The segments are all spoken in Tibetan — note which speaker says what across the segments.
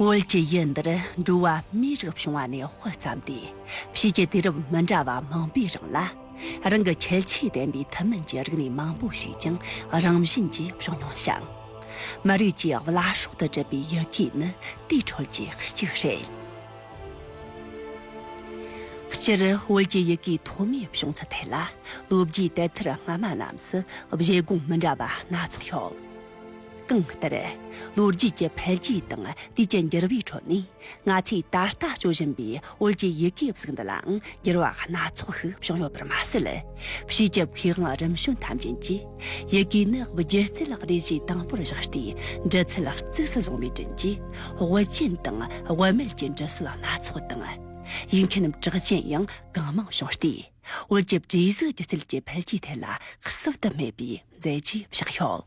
Speaker 1: བོད་ཀྱི་ཡུལ་འདིར་འགྲོ་བ་མིའི་རིགས་བྱུང་བ་ནས་དཔེ་བརྩམས་ཏེ་ཕྱིས་ཀྱི་དུས་རབས་མི་འདྲ་བ་མང་པོའི་རིང་ལ། རང་གི་ཁྱད་ཆོས་ལྡན་པའི་ཐུན་མིན་གྱི་རིག་གནས་མང་པོ་ཞིག་ཀྱང་རང་བཞིན་གྱིས་བྱུང་མྱོང་ཞིང། མི་རིགས་ཀྱི་བླ་སྲོག་ཏུ་གྲུབ་པའི་ཡི་གེ་ནི་དེའི་ཁྲོད་ཀྱི་གཅིག་རེད། སྤྱིར་བོད་ཀྱི་ཡི་གེའི་ཐོག་མའི་བྱུང་ཚུལ་ཐད་ལ་ལོ་རྒྱུས་དེབ་ཐེར་སྔ་མ་རྣམས་སུ་བཞེད་དགོངས་མི་འདྲ་བ་སྣ་ཚོགས་ཡོད། གང་ལྟར། ལོ་རྒྱུས་ཀྱི་འཕེལ་རྒྱས་དང་དུས་ཀྱི་འགྱུར་བའི་ཁྲོད་ནས་ང་ཚོས་ད་ལྟ་སྤྱོད་བཞིན་པའི་བོད་ཀྱི་ཡི་གེའི་གཟུགས་འདི་ལའང་འགྱུར་བ་སྣ་ཚོགས་ཤིག་བྱུང་ཡོད་པར་མ་ཟད། བྱིས་རྒྱབ་མཁས་དབང་རིམ་བྱོན་ཐམས་ཅན་གྱིས་ཡི་གེའི་གནའ་བབས་སྒྱུ་རྩལ་ལག་རས་གཞི་དང་པོར་བཞག་སྟེ་འབྲི་ཚུལ་ལ་གཙིགས་སུ་བཟུང་བའི་བྲིན་གྱིས་དབུ་ཅན་དང་དབུ་མེད་ཀྱི་འབྲི་སྲོལ་སྣ་ཚོགས་དང། ཡིག་མཁན་རྣམས་གྲགས་ཅན་ཡང་གང་མང་བྱུང་སྟེ་བོད་ཀྱི་བྲིས་གཟུགས་སྒྱུ་རྩལ་གྱི་འཕེལ་རྒྱས་ཐད་ལ་གསོབ་ཏུ་སྨད་པའི་མཛད་རྗེས་བཞག་ཡོད།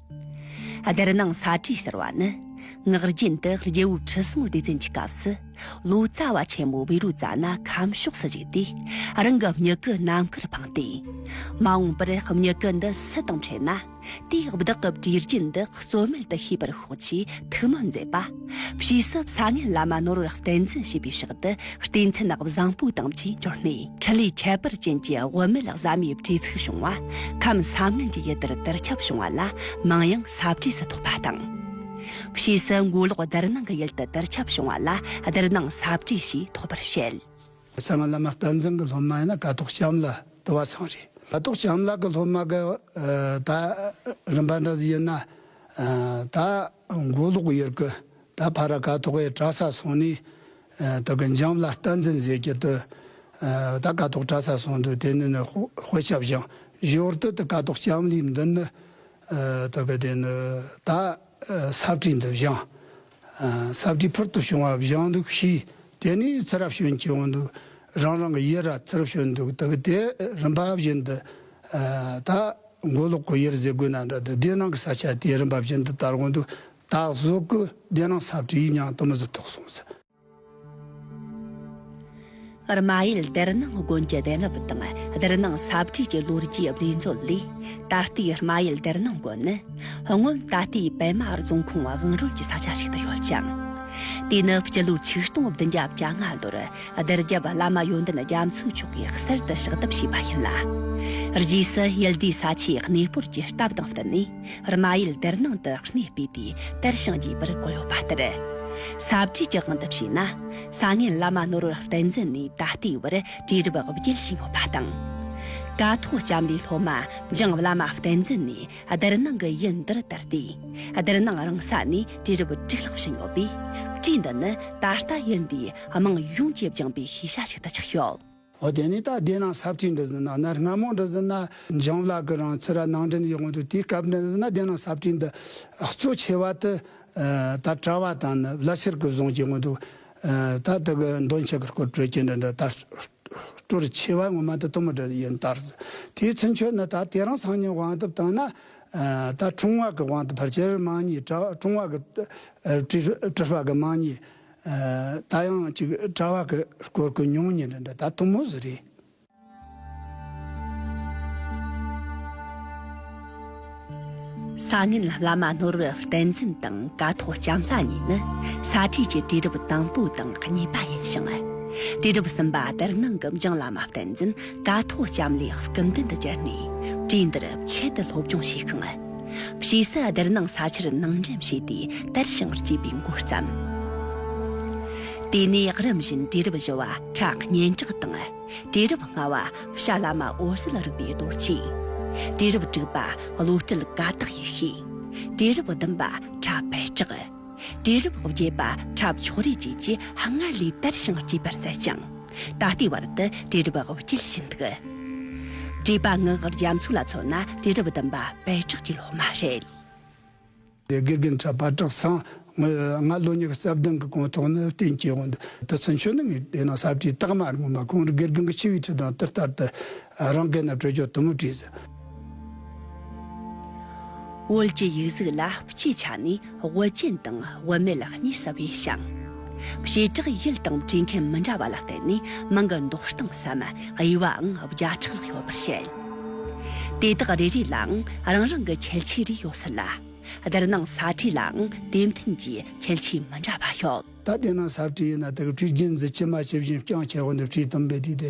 Speaker 1: སྡེར་ནང་ས་བྲིས་ཟེར་བ་ནི་ངག་རྒྱུན་དུ་རྒྱལ་བོའི་ཁྲི་སྲོང་ལྡེ་བཙན་གྱི་སྐབས་སུ་ལོ་ཙཱ་བ་ཆེན་མོ་བེ་རུ་ཙཱ་ན་ཁམས་ཕྱོགས་སུ་བཞུགས་ཏེ་རང་གི་མྱུ་གུ་ནམ་མཁར་འཕངས་ཏེ། མ་འོངས་པར་མྱུ་གུ་འདི་སུ་དང་འཕྲད་ན་དེས་བདག་གི་བྲིས་རྒྱུན་འདི་རྩོད་མེད་དུ་ཤེས་པར་ཤོག་ཅེས་ཐུགས་སྨོན་མཛད་པ། བྱིས་གསབ་ས་ངན་ལ་མ་ནོར་བར་བསྟན་འཛིན་བྱེད་པའི་ཕྱག་ཏུ་བསྟན་མཚན་ནག་བཟང་པོའི་དང་བཅས་འབྱོར་ནས་འཕྲིན་ལས་ཁྱད་པར་ཅན་གྱི་དབུ་མེད་བཟའ་མའི་བྲིས་ཚིག་བྱུང་བ། ཁམས་ས་ངན་གྱི་ཡུལ་དེར་དར་ཁྱབ་བྱུང་བ་ལ་མིང་ཡང་ས་བྲིས་སུ་ཐོགས་པ་དང། བྱིས་གསབ་མགོ་ལོག་སྡེར་སྣང་གི་ཡུལ་དུ་དར་ཁྱབ་བྱུང་བ་ལ་སྡེར་སྣང་ས་བྲིས་ཞེས་ཐོགས་པར་བཤད། ས་ངན་བླ་མ་
Speaker 2: བསྟན་འཛིན་གྱི་སློབ་མ་ཡིན་ན་ཀ་ཐོག་བྱམས་ལ་དུ་བ་ཚང་རེད། ཀ་ཐོག་བྱམས་ལགས་ཀྱི་སློབ་མ་ག་ད་རིམ་པ་འདྲ་ཡིན་ན། ད་མགོ་ལོག་ཡུལ་གྱི་ད་བྷ་ར་ཀ་ཐོག་གི་གྲྭ་ས་སོང་ནས། དེ་གི་འཇམ་ལ་རྟ་འཛིན་བཟས་ཀྱི་དུ། ད་ཀ་ཐོག་གྲྭ་ས་སོང་འདུག་དེ་ནས་ནི་དཔེ་ཆ་བཞེངས་ཞོར་དུ་དེ་ཀ་ཐོག་ལྕམ་ལིའི་མདུན་ནི། དེ་གི་དེ་ནི་ད་ས་བཀྲིས་འདི་བཞེངས། ས་བྲིས་ཕུར་དུ་བྱུང་བ་བཞེངས་འདུག་གཤིས་དེ་ནས་ཚེ་རབས་གཞོན་གྱི་དབང་དུ་རང་རང་གི་ཡེར་ར་ཚེ་རབས་གཞོན་འདུག་དག་གི་དེ་རིམ་པ་བཞིན་དུ་དག། མགོ་ལོག་གི་ཡེར་ཟེ་གོས་ན་འདྲ་དུ་སྡེ་ནང་གི་ས་ཆ་དེ་རིམ་པ་བཞིན་དུ་དར་དབང་དུ་དག་གཟུགས་ཀྱི་སྡེ་ནང་ས་བྲིས་ཉང་གཏུམ་མོ་ཟི་ཐོག་སོང་ཟི།
Speaker 1: རྨ་ཡུལ་སྡེར་ནང་དགོན་གྱི་གདན་རབས་དང་སྡེར་ནང་ས་བྲིས་ཀྱི་ལོ་རྒྱུས་རྦྲིས་མཛོད་ལས། ད་ལྟའི་རྨ་ཡུལ་སྡེར་ནང་དགོན་ནི། སྔོན་ད་ལྟའི་པད་མ་རྫོང་ཁོངས་བང་རོལ་གྱི་ས་ཆ་ཞིག་ཏུ་ཡོད་ཅིང། དེ་ནི་སྤྱི་ལོའི་ཆིག་སྟོང་བདུན་བརྒྱ་བརྒྱ་ལྔ་ལོར་སྡེར་རྒྱབ་བླ་མ་ཡོན་ཏན་རྒྱ་མཚོས་མཆོག་གིས་གསེར་དུ་ཕྱག་བཏབ་བྱས་པ་ཡིན་ལ། རྗེས་སུ་ཡུལ་དེའི་ས་ཆའི་གནས་སྤོར་གྱི་སྟབས་དང་བསྟུན་ནས། རྨ་ཡུལ་དེར་ནང་དུ་གནས་སྤོས་ཏེ་དེར་བྱང་རྒྱས་པར་བསྐོ་ཡོད་པ་ལྟར། ས་བྲིས་ཀྱི་དབང་དུ་བྱས་ན་ས་ངན་བླ་མ་ནོར་བུ་བསྟན་འཛིན་ནས་ད་ལྟའི་བར་བྲིས་རབས་དབུ་འབྱེད་བྱས་མྱོང་པ་དང། ཀ་ཐོག་ལྕམ་ལའི་སློབ་མ་འཇང་བླ་མ་བསྟན་འཛིན་ནས་སྡེར་ནང་གི་ཡུལ་འདིར་དར་ཏེ་སྡེར་ནང་རང་ས་ནས་བྲིས་རབས་བྲིས་ལྷག་བྱས་མྱོང་པས་བྲིས་འདི་ནི་ད་ལྟ་ཡུལ་འདིའི་དམངས་ཡོངས་ཀྱིས་སྦྱངས་པའི་ཤེས་བྱ་ཞིག་ཏུ་ཆགས་ཡོད། འོ་དེ་ནས་ད་བདེ་
Speaker 2: ན་ཟབ་ཅིག་འདི་ཟིན་ན་གནར་སྔ་མོ་འདི་ཟིན་ན་འཇང་ལགས་ཀྱི་རང་ཚུར་ར་ནང་འདྲེན་ཡོད་དགོངས་འདུག་དེའི་སྐབས་འདི་ཟིན་ན་བདེ་ན་ཟབ་ཅིག་འདི་གཙོ་ཆེ་བ་དུ་ད་གྲྭ་བ་དང་ནི་བླ་སེར་གྱི་བཟུང་གྱི་དགོངས་འདུག་ད་དེ་གི་འདོན་ཆེ་གི་སྐོར་གྲོས་ཀྱི་འདི་འདྲ་ད་སྤྲོར་ཆེ་བ་ངོ་མ་དུ་དུ་མི་འདྲ་ཡིན་ལྟར་དེའི་ཚུན་ཆོད་ནི་ད་དེ་རང་སང་ཉིན་དབང་དུ་བཏང་ན་ད་འཁྲུངས་བ་གི་དབང་དུ་བར་ཆད་རིགས་མང་གཉིས་གྲ་འཁྲུངས་བ་གི་དྲི་བ་གི་མང་གཉིས་ད་ཡང་ཅིག་གྲྭ་བ་གི་སྐོར་སྐུ་མྱོང་ཉིན་རེ་འདྲ་ད་དུང་མོ་ཟི་རེད།
Speaker 1: སང་ཉིན་བླ་མ་ནོར་བུ་བསྟན་འཛིན་དང་དཀའ་ཐོག་ལྕམ་ལྷ་གཉིས་ནི་ས་ཁྲའི་ཆེད་དུས་རབས་དང་པོ་དང་གཉིས་པ་ཡིན་ཞིང། དུས་རབས་གསུམ་པ་དར་ནང་གི་འཇང་བླ་མ་བསྟན་འཛིན་དཀའ་ཐོག་ལྕམ་ལས་སྐུ་མདུན་དུ་གྱུར་ནས་གྲོས་འདིར་ཆེད་དུ་སློབ་སྦྱོང་བྱས་ཤིང། ཕྱིས་སུ་སྡེར་ནང་ས་ཆར་ནང་འགྲེམས་བྱས་ཏེ་དར་ཞིང་བསྐྱེད་པའི་མགོ་བརྩམས། དེ་ནས་རིམ་བཞིན་གྲི་རབ་བཞི་བ་ཁྲག་སྙན་གྲགས་དང། གྲི་རབ་ལྔ་བ་བྱ་བླ་མ་འོད་གསལ་རིག་པའི་རྡོ་རྗེ། གྲི་རབ་དྲུག་པ་བློ་གྲོས་ཀ་དག་ཡེ་ཤེས། གྲི་རབ་བདུན་པ་ཁྲ་འཕེལ་གྲགས། གྲི་རབ་བརྒྱད་པ་ཁྲབ་མཆོག་རིགས་བཅས་ཀྱིས་སྔར་ལས་དར་ཞིང་བསྐྱེད་པར་མཛད་ཅིང། ད་ལྟའི་བར་དུ་དྲིལ་སྒྲུབ་དབུ་སྐྱེལ་བཞིན་འདུག། བྲིས་པ་ངག་དབར་རྒྱ་མཚོ་ལ་མཚོན་ན་དྲིལ་སྒྲུབ་བདུན་པ་
Speaker 2: པད་གྲགས་
Speaker 1: ཀྱི་སློབ་མ་རེད། དགེ་
Speaker 2: རྒན་གྲྭ་པ་བཀྲག་
Speaker 1: ཚང་
Speaker 2: ངོས་ང་ལོ་གཉིས་ཀྱི་སྲབ་གདང་གི་གོང་ཐོག་ནི་བསྟན་སྐྱེས་དབང་དུ་སོན་ཆོས་ནི་ངས་བལྟས་ན་གསར་བྲིས་རྟགས་མ་རིང་མོ་མ་གོང་རུ་དགེ་རྒན་གྱི་ཆི་བའི་ཁྲི་དང་ཏིལ་ལྟར་དུ་རང་སྐད་ན་སྤྲོས་འཇོག་དུམ་བུ་བྲིས། བོད་ཀྱི་ཡིག་གཟུགས་ལ་སྤྱིའི་ཆ་ནས་བོད་ཅན་དང་བོད་མེད་གཉིས་ཟབ་པས་
Speaker 1: ཤིང། བྱེ་བྲག་ཡུལ་དང་བྲིས་མཁན་མི་འདྲ་བ་ལ་བརྟེན་ནས་མིང་གི་འདོགས་སྟངས་སམ་དབྱེ་བའང་བརྒྱ་ཕྲག་ལྷག་ཡོད་པར་བཤད། དེ་དག་རེ་རེ་ལའང་རང་རང་གི་ཁྱད་ཆོས་རེ་ཡོད་སྲིད་ལ། དེར་སྣང་ས་བྲིས་ལའང་
Speaker 2: དེ་མཐུན་གྱི་ཁྱད་ཆོས་མི་འདྲ་བ་ཡོད། ད་དེ་སྣང་ས་བྲིས་ཡིན་ན་དེ་གི་བྲིས་རྒྱུན་འཛིན་བྱེད་མ་བྱེད་བཞིན་རྐྱང་ཁྱེར་བོ་ནས་བྲིས་དུམ་བེ་བྲིས་ཏེ་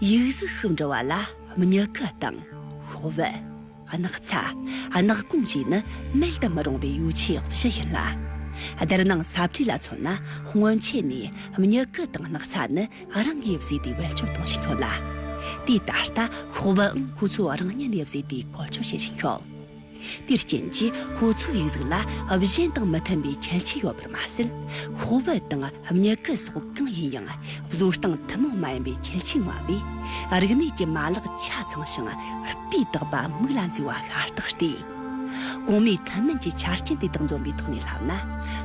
Speaker 1: ཡིག་གཟུགས་ཤུགས་འགྲོ་བ་ལ་མྱུ་གུ་དང། ཤོག་བུ། སྣག་ཚ། སྣག་སྐོམ་བཅས་ནི་མེད་དུ་མི་རུང་བའི་ཡོ་བྱད་བཞི་ཡིན་ལ། སྡེར་ནང་ས་བྲིས་ལ་མཚོན་ན་སྔོན་ཆད་ནས་མྱུ་གུ་དང་སྣག་ཚ་ནི་རང་གིས་བཟོས་ཏེ་བེད་སྤྱོད་གཏོང་བཞིན་ཡོད་ལ། དུས་ད་ལྟ་ཤོག་བུའང་ཁོ་ཚོས་རང་ཉིད་ནས་བཟོས་ཏེ་བཀོལ་སྤྱོད་བྱེད་བཞིན་ཡོད། དེར་བརྟེན་གྱི་ཁོ་ཚོའི་རིགས་གཟུགས་ལ་གཞན་དང་མི་མཐུན་པའི་ཁྱད་ཆོས་ཡོད་པར་མ་ཟད། ཁོ་བོ་དང་མྱུ་གུ་སོགས་གང་ཡིན་ཡང་བཟོ་སྟངས་ཐུན་མོང་མ་ཡིན་པའི་ཁྱད་ཆོས་མངའ་བས། རིག་གནས་ཀྱི་མ་ལག་ཆ་ཚང་ཞིང་སྤུས་དག་པ་མིག་ལ་མཚོན་བ་ཤ་སྟག་སྟེ། གོང་སྨོས་ཐུན་མིན་གྱི་ཆ་རྐྱེན་དེ་དག་འཛོམས་པའི་ཐོག་ནས་བསླབ་ན་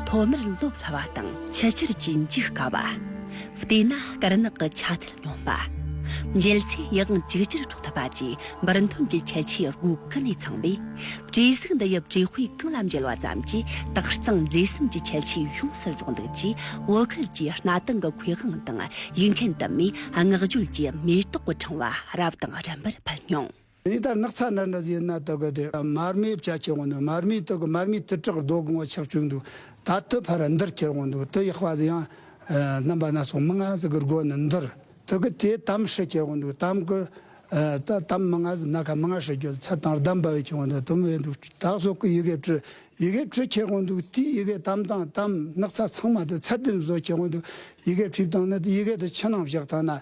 Speaker 1: ཐོག་མར་སློབ་སླ་བ་དང། ཕྱི་ཕྱིར་གྱི་འཇུག་དཀའ་བ། བལྟས་ན་དཀར་ནག་གི་ཆ་ཚད། མྱོང་པ། འཇལ་ཚེ་ཡིད་དབང་ཅིག་ཅར་འཕྲོག་ཐུབ་པ་བཅས་འབུར་མཐོན་གྱི་ཁྱད་ཆོས་དགུ་ཀུན་ནས་ཚང་བས། བྲིས་གཟུགས་འདི་ཡབ་བྲིས་དཔེ་གང་ལ་མཇལ་བ་ཙམ་གྱིས་དག་གཙང་མཛེས་གསུམ་གྱི་ཁྱད་ཆོས་ཡོངས་སུ་རྫོགས་འདུག་ཅེས་བོད་ཁུལ་གྱི་གནའ་དེང་གི་མཁས་དབང་དང་ཡིག་མཁན་དུ་མས་བསྔགས་བརྗོད་ཀྱི་མེ་ཏོག་གི་ཕྲེང་བ་རབ་དང་རིམ་པར་ཕུལ་མྱོང། དེ་ལྟར་ནགས་
Speaker 2: ཚལ་འདྲ་འདྲ་བཞིན་རྣ་ལྟ་གི་དེ་མར་མེའི་བྱ་ཁྱེར་འོང་འདུག་མར་མེའི་སྟེང་གི་མར་མེའི་ཐིགས་ཁྲག་རྡོ་གང་བ་ཆགས་བཅུག་འདུག་ད་དེ་ཕར་འདིར་ཁྱེར་འོང་འདུག་དེ་ཡག་པ་དེ་ཡང་རྣམ་པ་སྣ་ཚོགས་མི་ལྔ་ཟིག་གི་སྒོ་ནས་འདིར་དེ་གི་དེ་དམ་ཧྲི་ཁྱེར་འོང་འདུག་དམ་གི་ད་དམ་མི་ལྔ་ཟིག་སྣ་ཁ་མི་ལྔ་ཧྲི་ཁྱེར་ཚད་དང་རྡམ་བེ་ཁྱེར་འོང་འདུག་དམ་བེ་འདུག་དག་སོགས་ཀྱི་ཡི་གེ་བྲི་ཡི་གེ་བྲི་ཁྱེར་འོང་འདུག་དེའི་ཡི་གེ་དམ་དང་དམ་ནགས་ཚལ་ཚང་མ་དེ་ཚད་དེ་བཟོ་ཁྱེར་འོང་འདུག་ཡི་གེ་བྲིས་དང་ནི་དེ་ཡི་གེ་དེ་ཕྱི་ནང་བཞག་དང་ན་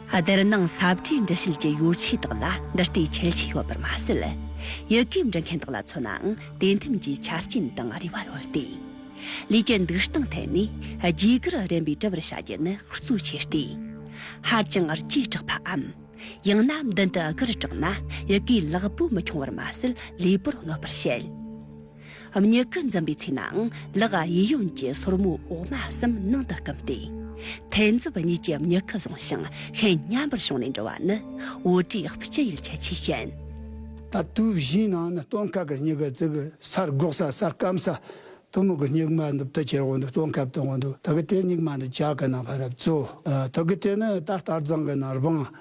Speaker 1: དེར་སྣང་ས་བཀྲའི་འདྲི་བྱེད་ཀྱི་ཡོ་བྱད་དག་ལ་འདི་ལྟའི་ཁྱད་ཆོས་ཡོད་པར་མ་ཟད། ཡི་གེ་འབྲི་མཁན་དག་ལ་མཚོན་ནའང་དེ་མཐུན་གྱི་ཆ་རྐྱེན་དང་རེ་བ་ཡོད་དེ། ལུས་ཀྱི་འདུག་སྟངས་ཐད་ནས་རྒྱུས་སྐར་རན་པའི་དྲི་བར་བྱ་རྒྱུ་ནི་གཙོ་ཆེ་སྟེ། ཧ་ཅང་རྐྱས་དྲགས་པའམ། ཡང་ན་མདུན་དུ་སྒར་དྲགས་ན་ཡི་གེའི་ལག་པོ་མི་འཁྱོང་བར་མ་ཟད་ལུས་པོར་གནོད་པར་བྱེད། མྱུ་གུ་འཛིན་པའི་ཚེ་ནའང་ལག་གཡས་གཡོན་གྱི་སོར་མོ་འོག་མ་གསུམ་ནང་དུ་བསྐུམ་སྟེ། ཐལ་མཛུབ་གཉིས་ཀྱིས་མྱུ་གུ་བཟུང་ཞིང་ཤིང་མཉམ་པར་ཕྱུང་ནས་འགྲོ་བ་ནི་འོ་དྲི་ལྕི་ཡུལ་ཁྱད་ཆོས་ཅན། ད་དུས་
Speaker 2: བཞིའི་ནང་ནི་སྟོན་ཁ་གི་མྱུ་གུ་བཙུག་གི་སར་སྒོག་ས་སར་སྐམ་ས་དུ་མུ་གུ་སྨྱུག་མ་འདི་བཏུ་ཁྱེར་འོག་ཏུ་སྟོན་ཁ་བཏུ་འོག་ཏུ་ད་གི་དེ་སྨྱུག་མ་འདི་བྱ་གི་ནང་བར་བཙུག་ད་གི་དེ་ནི་ད་ལྟར་རྫང་གི་ནང་རྦང་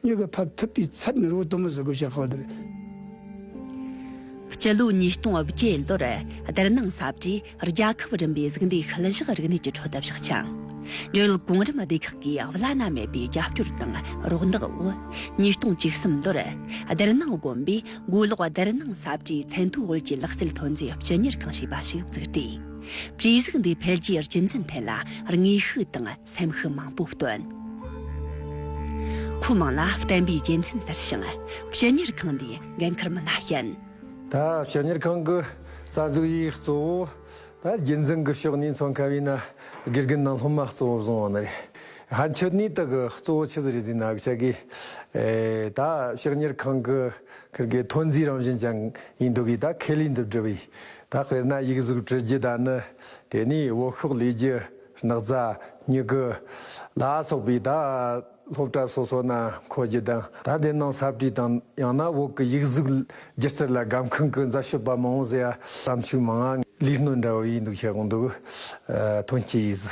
Speaker 2: མྱུ་གུ་ཕབ་ཐུབ་པའི་ཚབ་མེ་རོའི་གཏུམ་མོ་བཟོ་དགོས་
Speaker 1: བྱ་ཁག་དེར། སྤྱི་ལོའི་ཉིས་སྟོང་དབུ་བརྒྱའི་ལོར་སྡེར་ནང་གསར་བརྗེས་རྒྱལ་ཁབ་རིམ་པའི་གཟུགས་འདས་ཤུལ་བཞག་རིག་གནས་ཀྱི་ཁྲོད་བཞག་ཅིང། འབྲེལ་ཡོད་གོང་རིམ་སྡེ་ཁག་གིས་བླ་ན་མེད་པའི་རྒྱབ་སྐྱོར་དང་རོགས་འདེགས་འོག་ཉིས་སྟོང་བཅུ་གསུམ་ལོར་སྡེར་ནང་དགོན་པའི་དགོན་ལོག་སྡེར་ནང་གསར་བརྗེའི་མཚན་ཐོའི་དབུས་ཀྱི་ལག་རྩལ་ཐོན་རྫས་སྤྱི་གཉེར་ཁང་ཞེས་པ་ཞིག་བཙུགས་ཏེ། བྲིས་གཟུགས་འདིའི་འཕེལ་རྒྱས་རྒྱུན་འཛིན་ཐད་ལ་དངོས་ཤུགས་དང། སེམས་ཤུགས་མང་པོ་བཏོན། ཁོ་མང་ལ་བསྟན་པའི་དགེ་མཚན་ཟེར་ཞིང་སྤྱི་གཉེར་ཁང་ནས་འགན་འཁུར་མི་སྣ་བསྐྱལ། ད་སྤྱི་
Speaker 3: གཉེར་ཁང་གི་རྩ་འཛུགས་ཡིག་གཙོ་བོ་ད་རྒྱུན་འཛིན་གྱི་ཕྱོགས་ནས་མཚོན་མཁན་བའི་ན་དགེ་རྒན་ནང་སློབ་མ་གཙོ་བོ་བཟུང་བ་ནི་རེད། ཧན་ཆོས་ནུས་དག་གི་གཙོ་བོ་ཆུ་ཚོད་རེ་རེའི་ནང་བྱེད་དགོས། ད་སྤྱི་གཉེར་ཁང་གི་ཁེར་གའི་ཐོན་རྫས་རང་བཞིན་ཅན་ཡིན་འདུག་གིས་ད་ཁེ་ལས་འདི་བསྒྲུབས། ད་དཔེར་ན་ཡིག་གཟུགས་བྲི་རྒྱུ་ད་ནི་དེ་ནས་འོག་ཤོག་ལས་རྒྱུ། སྣག་ཚ། མྱི་དགུ། ལ་སོགས་པའི་བརྡ། སློབ་གྲྭ་སོ་སོ་ན་འཁོར་རྒྱུ་དང་ད་ལྟའི་ནང་གསར་བྲིས་དང་ཡང་ན་འོག་གི་ཡིག་གཟུགས་སྒྱུ་རྩལ་ལ་སྒམ་ཁང་གི་མཛའ་ཤོད་པ་མང་བོ་ཟེར་གཏམ་ཤུགས་མང་ང་ལིས་སྣོད་འདྲ་བོ་ཡིན་འདུག་ཤེས་གང་འདུག་དོན་གྱི་ཡིས།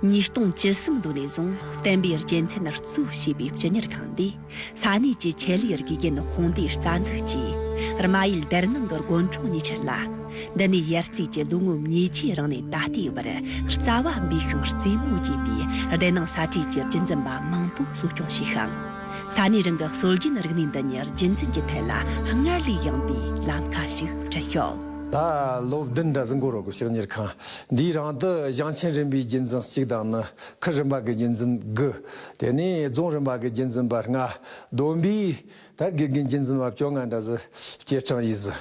Speaker 1: ཉིས་སྟོང་བཅུ་གསུམ་ལོ་ནས་བཟུང་བསྟན་པའི་རྒྱལ་མཚན་རྩོད་ཞེས་པའི་སྤྱི་གཉེར་ཁང་འདི། ས་གནས་ཀྱི་ཆེད་ལས་རིགས་རྒན་ཧོང་ཏེ་རྩ་འཛུགས་ཀྱིས་རྨ་ཡུལ་སྡེར་ནང་གི་དགོན་གྲོང་ཉེ་ཆར་ལ་འདི་ནས་ཡར་རྩིས་ཀྱི་ལོ་ངོ་ཉིས་ཆའི་རིང་ནས་ད་ལྟའི་བར་རྩ་བ་འབུས་ཤིང་རྩིས་མོ་བྱས་པའི་སྡེར་ནང་ས་ཁྲའི་གྱེར་རྒྱུན་འཛིན་པ་མང་པོ་གསོ་སྐྱོང་བྱས་ཤིང། ས་གནས་རང་གི་སྲོལ་རྒྱུན་རིག་གནས་འདི་ཉིད་རྒྱུན་འཛིན་གྱི་ཐད་ལ་སྔར་ལས་ཡངས་པའི་ལམ་ཁ་ཞིག་བསྐྲུན་ཡོད། ད་ལོ་
Speaker 3: བདུན་གྲྭ་བཙུན་གོ་རོ་གོ་ཞིང་གཉེར་ཁང་འདིའི་རང་དུ་བྱང་ཆེན་རིམ་པའི་རྒྱུན་འཛིན་གཅིག་དང་ནི་ཁུལ་རིམ་པ་གི་རྒྱུན་འཛིན་དགུ། དེ་ནས་རྫོང་རིམ་པ་གི་རྒྱུན་འཛིན་པ་ལྔ། བསྡོམས་པས་དར་རྒུད་གི་རྒྱུན་འཛིན་པ་བཅོ་ལྔ་འདྲ་ཟུར་བཅས་གྲངས་ཡིག་ཟུར།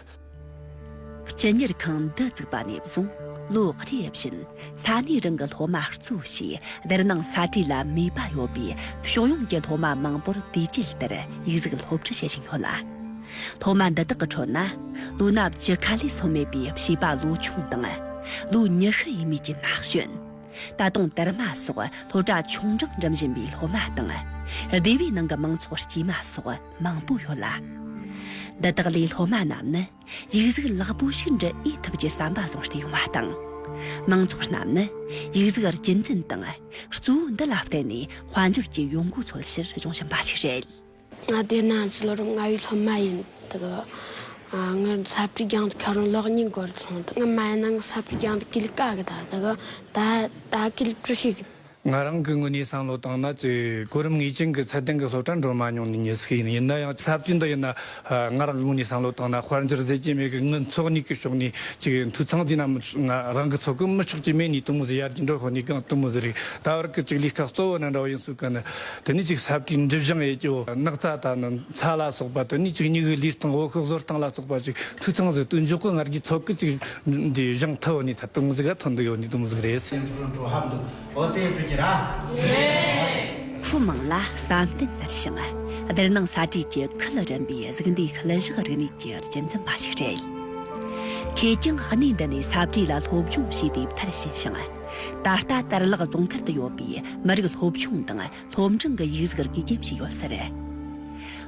Speaker 3: སྤྱི་གཉེར་
Speaker 1: ཁང་འདི་བཙུགས་པ་ནས་བཟུང་ལོ་རེ་བཞིན་ས་གནས་རང་གི་སློབ་མ་གཙོ་བྱས་སྡེར་ནང་ས་བྲིས་ལ་ནུས་པ་ཡོད་པའི་ཕྱོགས་ཡོངས་ཀྱི་སློབ་མ་མང་པོར་དུས་བཅད་ལྟར་ཡིག་གཟུགས་སློབ་ཁྲིད་བྱེད་བཞིན་ཡོད་ལ། སློབ་མ་འདི་དག་གི་ཁྲོད་ན་ལོ་ན་བཅུ་ཁ་ལས་སོན་མེད་པའི་བྱིས་པ་ལོ་ཆུང་དང་ལོ་ཉི་ཤུ་ཡས་མས་ཀྱི་ན་གཞོན། ད་དུང་དར་མ་སོགས་ལྷོ་བྲག་ཆུང་འབྲིང་འགྲིམ་བཞིན་པའི་སློབ་མ་དང། སྡེ་བའི་ནང་གི་མང་ཚོགས་དཀྱུས་མ་སོགས་མང་པོ་ཡོད་ལ། འདི་དག་ལས་སློབ་མ་རྣམས་ནི་ཡིག་གཟུགས་ལེགས་པོ་ཞིག་འབྲི་ཨེ་ཐུབ་ཀྱི་བསམ་པ་བཟུང་སྟེ་ཡོང་བ་དང། མང་ཚོགས་རྣམས་ནི་ཡིག་གཟུགས་རྒྱུན་འཛིན་དང་གཙོ་བོ་འདི་ལ་བརྟེན་ནས་དཔལ་འབྱོར་གྱི་ཡོང་སྒོ་འཚོལ་ཕྱིར་སྦྱོང་བཞིན་པ་ཞིག་རེད། མངའ་སྡེ་ན་
Speaker 4: ཚུད་ལོ་རབས་ལྔ་བའི་སློབ་མ་ཡིན། དག་ངའི་ས་པྲི་རྒྱང་དུ་ཁ་རུང་ལག་གཉིས་བསྒོར་སོང། དག་ང་མ་ཡིན་ན་ང་ས་པྲི་རྒྱང་དུ་གིལ་ཀ་གི་ད་ཟེར་གི། ད་ད་གིལ་ཀྲུ་ཤིག་གི། ང་རང་གི་དངོས་
Speaker 2: གནས་བསམ་བློ་བཏང་ན་ཚེ་གོ་རིམ་ངེས་ཅན་གྱི་ཚད་ལྡན་གྱི་སློབ་གྲྭར་འགྲོ་མ་མྱོང་ནི་ཉེས་ཤིག་ཡིན། ཡིན་ན་ཡང་ས་པྲི་འདི་ཡིན་ན། ང་རང་གི་དངོས་གནས་བསམ་བློ་བཏང་ན་དཔལ་འབྱོར་ཟས་ཀྱི་མེད་གི་དངུལ་འཚོགས་གཉིས་ཀྱི་ཕྱོགས་ནས་ཅིག་ཡིན། འཐུས་ཚང་དེ་ན་མི་ཆོག་ང་རང་གི་འཚོ་གི་མི་ཆོག་ཅིག་མེད་ནས་དུ་མུ་ཟི་ཡར་གྱི་འགྲོ་ཧོ་ནས་གང་དུ་མུ་ཟི་རེད། ད་བར་གི་ཅིག་ལས་ཀ་གཙོ་བོ་ན་འདྲ་བོ་ཡིན་སུ་ག་ནི། དེ་ནས་ཅིག་ཟབ་ཀྱི་འཇིབ་བྱང་ཡེ་ཀྱོ་རྣག་རྩ་དང་ནི་ཚ་ལ་སོགས་པ་དེ་ནས་ཅིག་སྙིགས་དབྱི་ལུས་སྟེང་འོག་ཤོག་ཟོར་སྟེང་ལ་སོགས་པ་ཅིག་ཐུགས་ཚང་ཟིག་ཏུ་འཇོག་གོ་སྔར་གྱི་ཚོགས་ཀྱི་ཅིག་འདི་བཞེངས་མཐའ་འོག་ནས་ཐ་དུང་གཟིགས་ཨ་ཐུང་འདི་ཡོ་ནི་དུང་གཟིགས་རེད།
Speaker 1: ཁྲུ་མང་ལ་བསམ་གཏན་གསར་བཞེངས་སྡེར་ནང་ས་བྲིས་ཀྱི་ཁུལ་རིམ་པའི་གཟུགས་འདས་ཁུལ་བཞག་རིག་གནས་ཀྱི་རྒྱུན་འཛིན་པ་ཞིག་རེད། ཁོས་ཀྱང་གནས་འདི་ནས་ས་བྲིས་ལ་སློབ་སྦྱོང་བྱས་ཏེ་མཐར་ཕྱིན་ཞིང། ད་ལྟ་དར་ལག་རྫོང་མཐར་དུ་ཡོད་པའི་མི་རིགས་སློབ་ཆུང་དང་སློབ་འབྲིང་གི་ཡིག་གཟུགས་རིག་གཞན་ཞིག་ཡོད་ཟེར།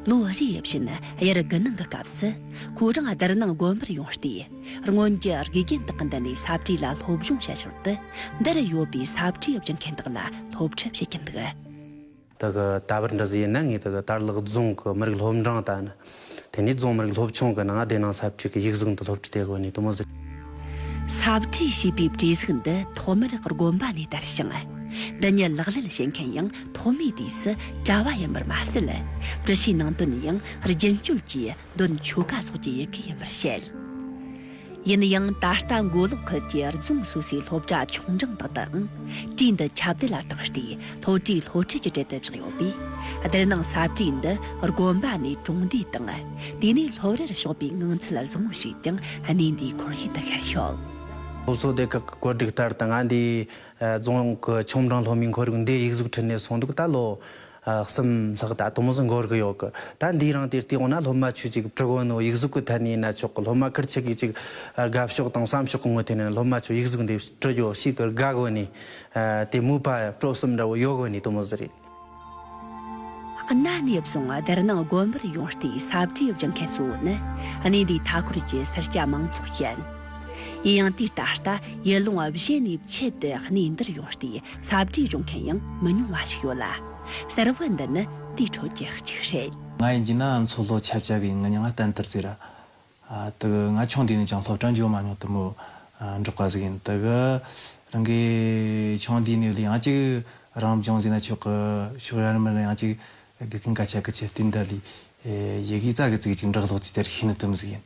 Speaker 1: ལོ་རེ་བཞིན་དབྱར་དགུན་གནང་གི་སྐབས་སུ་ཁོ་རང་སྡེར་ནང་དགོན་པར་ཡོང་སྟེ་སྔོན་གྱི་རིག་གཞན་དག་གི་མདུན་ནས་ས་བཀྲིས་ལ་སློབ་སྦྱོང་བྱེད་ཞོར་དུ་འདིར་ཡོད་པའི་ས་བཀྲིས་སྦྱིན་མཁན་དག་ལ་སློབ་ཁྲིད་བྱེད་ཀྱིན་འདུག། དེ་གི་
Speaker 5: ད་བར་འདྲི་ཟི་ཡིན་ན་ངས་དེ་གི་དར་ལག་རྫོང་གི་མི་རིགས་སློབ་འབྲིང་དང། དེ་ནས་རྫོང་མི་རིགས་སློབ་ཆུང་གི་ནང་བདེ་སྣང་ཟབ་ཁྲིད་ཀྱི་ཡིག་གཟུགས་འདི་སློབ་ཁྲིད་དེ་གོ་ནས་དུ་མ་ཟེར། ཟབ་
Speaker 1: ཁྲིད་ཞེས་པའི་བྲིས་གཟུགས་འདི་ཐོག་མར་དགོན་པ་ནས་དར་ཞིང། འདི་ཉིད་ལག་ལེན་བྱེད་མཁན་ཡང་ཐོག་མའི་དུས་སུ་གྲྭ་བ་ཡིན་པར་མ་ཟད། འདྲི་བྱའི་ནང་དོན་ཡང་རྒྱུན་སྤྱོད་ཀྱིས་དོན་ཆོ་ག་སོགས་ཀྱི་ཡི་གེ་ཡིན་པར་བཤད། ཡིན་ཡང་ད་ལྟ་མགོ་ལོག་ཁུལ་གྱི་རྫོང་སོ་སོའི་སློབ་གྲྭ་ཆུང་འབྲིང་དག་ཏུའང་བྲིས་འདི་ཁྱབ་བརྡལ་ལ་དྭངས་ཏེ་ལྷོ་བྲིས་ལྷོ་ཁྲིད་ཀྱི་གྲལ་དུ་བཞག་ཡོད་པས་བསྡུར་སྣང་ས་བྲིས་འདི་དགོན་པ་ནས་གྲོང་སྡེ་དང་དེ་ནས་སློབ་རར་ཕྱོགས་པའི་ངང་ཚུལ་བཟང་བོ་ཞིག་ཀྱང་གནས་འདིའི་འཁོར་ཡུལ་དུ་ཤར་ཡོད། སློབ་གསོ་སྡེ་
Speaker 5: ཁག་གི་བཀོད་སྒྲིག་ལྟར་ད་སྔ་འདིའི་རྫོང་གི་ཆུང་འབྲིང་སློབ་མའི་འཁོར་ཡུག་འདིའི་ཡིག་གཟུགས་ཁྲིད་ནས་སོང་འདུག་ད་ལོ་གསུམ། ལྷག་ད་དུང་བཟོ་འགོ་རུ་ཡོད་གི། ད་འདིའི་རང་དེར་བལྟས་འོ་ན་སློབ་མ་ཆོས་ཅིག་བྲི་གོ་ནོ་ཡིག་གཟུགས་ཀྱི་ཐད་ནས་ན་ཆོག་གི་སློབ་མ་ཁིར་ཆི་གིས་ཅིག་དགའ་ཕྱོགས་དང་བསམ་ཕྱོགས་ཀྱི་ངོ་ཐད་ནས་ན་སློབ་མ་ཆོས་ཡིག་གཟུགས་འདི་བྲི་རྒྱོ་ཞིག་གིར་དགའ་གོ་ནི། དེ་མུས་པ་སྤྲོ་གསུམ་འདྲ་བོ་ཡོད་གོ་ནི་དུ་མོ་ཟེར་རེད། གནའ་
Speaker 1: ནས་བཟུང་དེར་ནང་དགོན་པར་ཡོང་སྟེ་གསབ་གྲས་སྦྱིན་མཁན་གཙོ་བོ་ནི་གནས་འདིའི་མཐའ་འཁོར་གྱི་སེར་སྐྱ་མང་ཚོགས་ཡིན། ཡིན་ཡང་དུས་ད་ལྟ་ཡུལ་ལུང་བཞི་ནས་ཕྱིས་ཏེ་གནས་འདིར་ཡོང་སྟེ། ས་བྲིས་རུང་མཁན་ཡང་མི་ཉུང་བ་ཞིག་ཡོད་ལ། གསར་བུ་འདི་ནི་དེའི་ཁྲོད་ཀྱི་གཅིག་རེད། ང་ཡི་འཇིགས་སྣང་མཚོ་
Speaker 6: ལྷོ་ཆབ་ཆ་བའི་ངུ་མྱ་ང་གཏན་བཏུར་རྩིས་ར། དག་ང་ཆུང་དུས་ནས་ཀྱང་སློབ་གྲྭ་འཇོག་མ་མྱོང་དུ་མོ་འབྲོག་པ་ཟིག་ཡིན་དག། རང་གི་ཆུང་དུས་ནས་ལས་ཡང་གཅིག་རང་བྱུང་ཟིག་ན་ཆོག་གི་ཕྱོགས་ཡར་མར་ཡང་གཅིག་དགེ་རྒན་ག་ཆ་གི་ཆེད་དུས་འདི་ལས་ཡི་གེ་རྩ་གི་ཚིག་གཅིག་འདྲག་ལྷོག་ཅིག་དེར་ཤི་ནི་དུམ་ཟིག་ཡིན།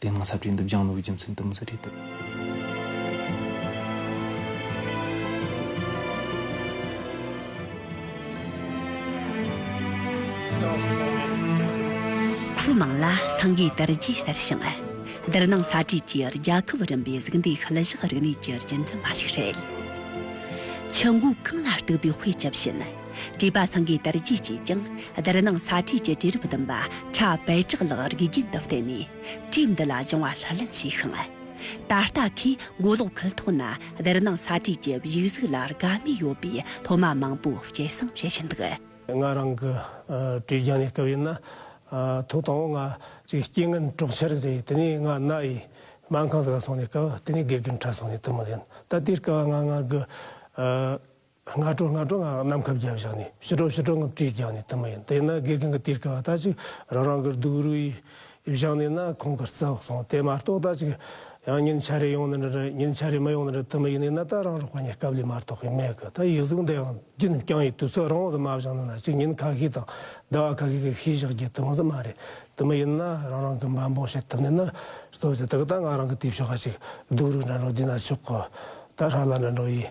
Speaker 6: དེ་སྔ་ས་བྲིས་འདུག་ལྗང་ལོའི་རྒྱུ་མཚན་དུ་མི་ས་བྲིས་འདུག།
Speaker 1: ཁོའི་མིང་ལ་སངས་གའི་དར་རྒྱས་ཟེར་ཞིང། སྡེར་ནང་ས་བྲིས་ཀྱིས་རྒྱལ་ཁབ་རིམ་པའི་གཟུགས་འདས་ཤུལ་བཞག་རིག་གནས་ཀྱི་རྒྱུན་འཛིན་པ་ཞིག་རེད། ཆུ་འགོ་གངས་ལ་གཏུགས་པའི་དཔེ་ཇི་བཞིན། བྲིས་པ་སངས་རྒྱས་དར་རྒྱས་ཀྱིས་ཀྱང་བསྡུར་སྣང་ས་བྲིས་ཀྱི་བྲིས་རིམ་བདུན་པ་ཕྲ་བལ་བྲག་ལག་རིགས་རྒྱུན་དུ་བསྟེན་ནས་བྲིས་འདི་ལ་སྦྱང་བ་ལྷུར་ལེན་བྱས་ཤིང། ད་ལྟ་ཁོས་མགོ་ལོག་ཁུལ་ཐོག་ན་བསྡུར་སྣང་ས་བྲིས་ཀྱི་བཞུགས་གཟུགས་ལ་དགའ་མོས་ཡོད་པའི་སློབ་མ་མང་པོ་སྐྱེད་བསྲིང་བྱེད་བཞིན་འདུག། ང་རང་
Speaker 7: གི་བྲིས་རྒྱང་ནས་བལྟ་བས་ན་ཐོག་དང་པོ་ང་གཅིག་སྐྱེ་ངན་གྲོགས་འཆར་མཛད་དེ་ནས་ང་རྣ་ཡི་སྨན་ཁང་ཟ་ག་སོང་ནས་སྐལ་བ་དེ་ནས་དགེ་རྒན་ཕྲ་སོང་ནས་དུ་མ་ལེན་ད་ལྟའི་སྐལ་བ་ང་ང་གི། སྔ་དྲོ་སྔ་དྲོ་ངང་གནམ་ཁབ་བརྒྱ་བཞག་ནས་ཕྱི་དྲོ་ཕྱི་དྲོ་ངང་བཀྲིས་བསྐྱངས་ནས་དུ་མ་ཡིན་དེ་ན་དགེ་རྒན་གྱི་གཏེར་ཁ་བ་དག་ཅིག་རང་རང་གི་སྡུག་རུས་བཞག་ནས་ན་ཁོང་གི་རྩ་སོང་དེ་མ་གཏོགས་དག་ཅིག་ཡང་ཉིན་ཆ་རེ་ཡོང་ན་འདྲ་འདྲ་ཉིན་ཆ་རེ་མ་ཡོང་ན་འདྲ་དུ་མ་ཡིན་ནས་ན་ད་རང་རོགས་པ་གཉིས་སྐབས་ལས་མ་གཏོགས་གི་མེད་གི་ད་ཡིག་གཟུགས་འདི་ཡང་བརྒྱུད་ནས་བསྐྱངས་ཡོད་དུས་ཚོད་རང་དབང་དུ་མ་བཞག་ན་ན་ཅིག་ཉིན་ཁ་ཤས་དང་ཟླ་བ་ཁ་ཤས་ཀྱི་ཤུལ་བཞག་རྒྱུ་དུ་མ་ཟ་མ་རེད་དུ་མ་ཡིན་ན་རང་རང་གི་འབའ་འབོག་བྱེད་ཐུབ་ནས་ན་གཙོ་བྱས་དག་ད་ང་རང་གི་དེབ་ཤོག་ཁ་ཅིག་སྡུག་རུས་འདྲ་འདྲ་བརྒྱུད་ན་ཆོག་གོ་ད་ར་ལ་འདྲ་འདྲ་ཡིན།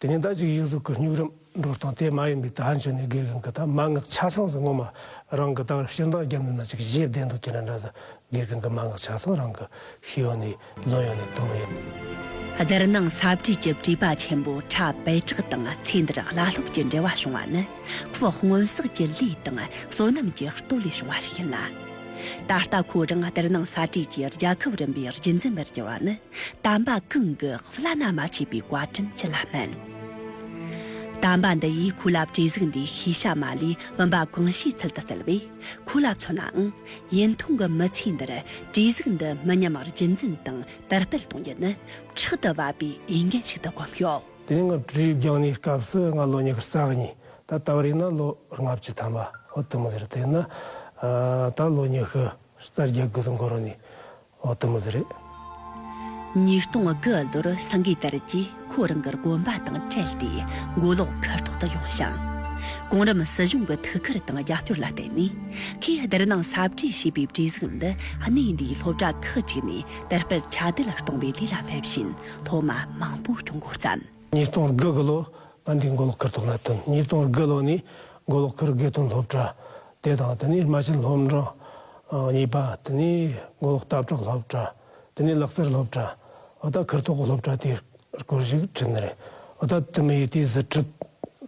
Speaker 7: དེ་ནས་ཟླ་གཅིག་ཡིག་གཟུགས་ཀྱི་སྙུག་རིམ་འགྲོ་སྟངས་དེ་མ་ཡིན་པའི་དག་མཆོད་ནས་དགེ་རྒན་གྱི་དག་མ་སྔགས་ཆ་ཚང་ཟིག་ངོ་མ་རང་གི་དག་ཕྱིར་འདང་རྒྱབ་ནས་ན་ཅིག་བཞེས་བསྡད་འདུག་ཁྱེད་རང་འདྲ་ཟེར་དགེ་རྒན་གྱི་མ་སྔགས་ཆ་ཚང་རང་གི་ཤེས་ཡོན་ནས་ལོན་ཡོང་ནས་དུ་མ་ཡིན། སྡེར་ནང་
Speaker 1: ས་བྲིས་ཀྱི་བྲིས་པ་ཆེན་པོ་ཁྲ་བེ་ཁྲག་དང་ཚེ་འདིར་བླ་སློབ་ཀྱི་འབྲེལ་བ་བྱུང་བ་ནི་ཁོའི་སྔོན་བསགས་ཀྱི་ལས་དང་བསོད་ནམས་ཀྱི་བསྟོད་ལས་བྱུང་བ་ཞིག་ཡིན་ལ། ད་ལྟ་ཁོ་རང་སྡེར་ནང་ས་བྲིས་ཀྱི་རྒྱལ་ཁབ་རིམ་པའི་རྒྱུན་འཛིན་པར་གྱུར་བ་ནི། དམ་པ་གང་གི་བླ་ན་མ་མཆིས་པའི་བཀའ་དྲིན་ཅི་ལ་སྨིན། དམ་པ་འདི་ཡིས་ཁོ་ལ་བཀྲས་གཟིགས་འདི་ཤེས་བྱ་མ་ལུས་བུམ་པ་གང་ཞིག་ཚུལ་དུ་བསྩལ་བས་ཁོ་ལ་མཚོན་ནའང། ཡུན་ཐུང་གི་མི་ཚེ་འདིར་བཀྲས་གཟིགས་འདི་མི་ཉམས་བར་རྒྱུན་འཛིན་དང་དར་སྤེལ་གཏོང་རྒྱུ་ནི་ཕྲག་ཏུ་བབ་པའི་འོས་འགན་ཞིག་ཏུ་བསྒོམས་ཡོད། དེ་ནས་ང་བྲུ་རིགས་
Speaker 7: རྒྱང་ནས་སྐབས་སུ་ང་ལོ་ཉི་ཤུ་རྩ་གཉིས་ད་ལྟ་བ་རིག་ན་ལོ་ལྔ་བཅུ་ཐམ་པ་འོ་དུ་མ་ཟེར་དེ་ན་ད་ལོ་ཉི་ཤུ་རྩ་བརྒྱད་དགུ་དུ་འགོར་ནས་འོ་དེ་མོ་ཟེ་རེད།
Speaker 1: ཉིས་སྟོང་དགུ་ལོར་སངས་གིས་དར་གྱིས་ཁོ་རང་གི་དགོན་པ་དང་བྲལ་ཏེ་མགོ་ལོག་མཁར་ཐོག་ཏུ་ཡོང་ཞིང། གོང་རིམ་སྲིད་གཞུང་གི་ཐུགས་ཁུར་དང་རྒྱབ་སྐྱོར་ལ་བརྟེན་ནས་ཁོས་སྡེར་ནང་ས་བྲིས་ཞེས་པའི་བྲིས་གཟུགས་འདི་གནས་འདིའི་སློབ་གྲྭ་ཁག་ཅིག་ནས་དར་སྤེལ་ཁྱབ་གདལ་གཏོང་བའི་ལས་ལ་སླེབས་བཞིན་སློབ་མ་མང་པོ་བསྐྱོང་འགོ་བརྩམས། ཉིས་སྟོང་དགུ་དགུ་
Speaker 7: ལོར་ང་འདིའི་མགོ་ལོག་མཁར་ཐོག་ལ་བཏོན། ཉིས་སྟོང་དགུ་ལོ་ནས་མགོ་ལོག་མཁར་དགེ་ཐོན་སློབ་གྲྭ་དེ་དང་དེ་ནས་རྨ་ཆེན་སློབ་འབྲིང་གཉིས་པ་དེ་ནས་མགོ་ལོག་སྟབས་གྲགས་སློབ་གྲྭ་དེ་ནས་ལག་རྩེར་སློབ་གྲྭ་འོ་ད་ཁིར་ཐོག་གི་སློབ་གྲྭ་དེ་སྐོར་ཞིག་དྲན་ནི་རེད་འོ་ད་དུ་མི་ཡི་དེ་གཟི་ཁྲིད་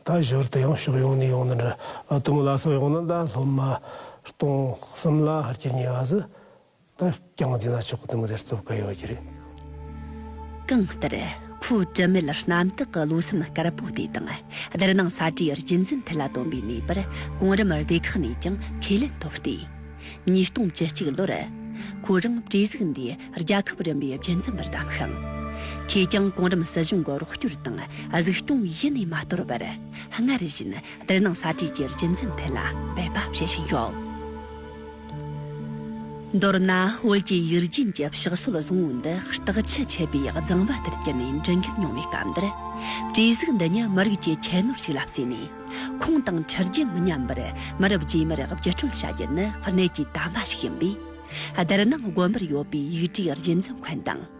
Speaker 7: ད་ཞོར་དུ་ཡང་ཕྱོགས་ཡོངས་ནས་ཡོང་ནི་འདྲ་ད་དུ་མི་ལ་སོགས་ཡོང་ན་ད་སློབ་མ་སྟོང་གསུམ་ལ་ཧར་གྱི་ཉེ་བ་ཟི་ད་རྐྱང་རྫི་ན་ཆོག་གི་དུ་མ་དེར་རྩོབ་དཀའ་ཡོད་པ་གྱི་རེད། གང་ལྟར།
Speaker 1: ཁོའི་དྲི་མེད་རྣམ་དག་གི་བློ་སེམས་དཀར་པོ་དེ་དང་སྡུར་ནང་ས་བཀྲའི་རྒྱུན་འཛིན་ཐད་ལ་བཏོན་པའི་ནུས་པར་གོང་རིམ་སྡེ་ཁག་ནས་ཀྱང་ཁས་ལེན་ཐོབ་སྟེ། ཉིས་སྟོང་བཅུ་གཅིག་ལོར། ཁོ་རང་བཀྲས་གཟིགས་འདི་རྒྱལ་ཁབ་རིམ་པའི་འཕྲིན་ཚན་པར་བདམས་ཤིང། ཁོས་ཀྱང་གོང་རིམ་སྲིད་གཞུང་གི་རོགས་སྐྱོར་དང་གཟིགས་སྐྱོང་ཡེ་ནས་མ་དོར་བར། སྔར་བཞིན་སྡུར་ནང་ས་བཀྲའི་རྒྱུན་འཛིན་ཐད་ལ་འབད་པ་བྱེད་བཞིན་ཡོད། མདོར་ན་བོད་ཀྱི་ཡུལ་རྒྱུན་གྱི་ཕྱག་སྲོལ་བཟང་བོ་འདི་བརྟག་ཆ་ཆད་པའི་གཙང་པ་ལྟར་གྱུར་ནས་འབྲི་མཁན་ཉུང་བའི་སྐབས་འདིར། གྲོས་གཟིགས་འདི་ཉིད་མི་རིགས་ཀྱི་ཁྱད་ནོར་ཞིག་ལ་བརྩིས་ནས། ཁུངས་དང་འཁྲབ་རྒྱུན་མི་ཉམས་པར་མི་རབས་རྗེས་མར་བརྒྱུད་སྤྲོད་བྱ་རྒྱུ་ནི་གནད་ཀྱི་དམ་པ་ཞིག་ཡིན་པས། བསྡུར་ན་དགོན་པར་ཡོད་པའི་ཡིག་གྲྭའི་རྒྱུན་འཛིན་མཁན་དང།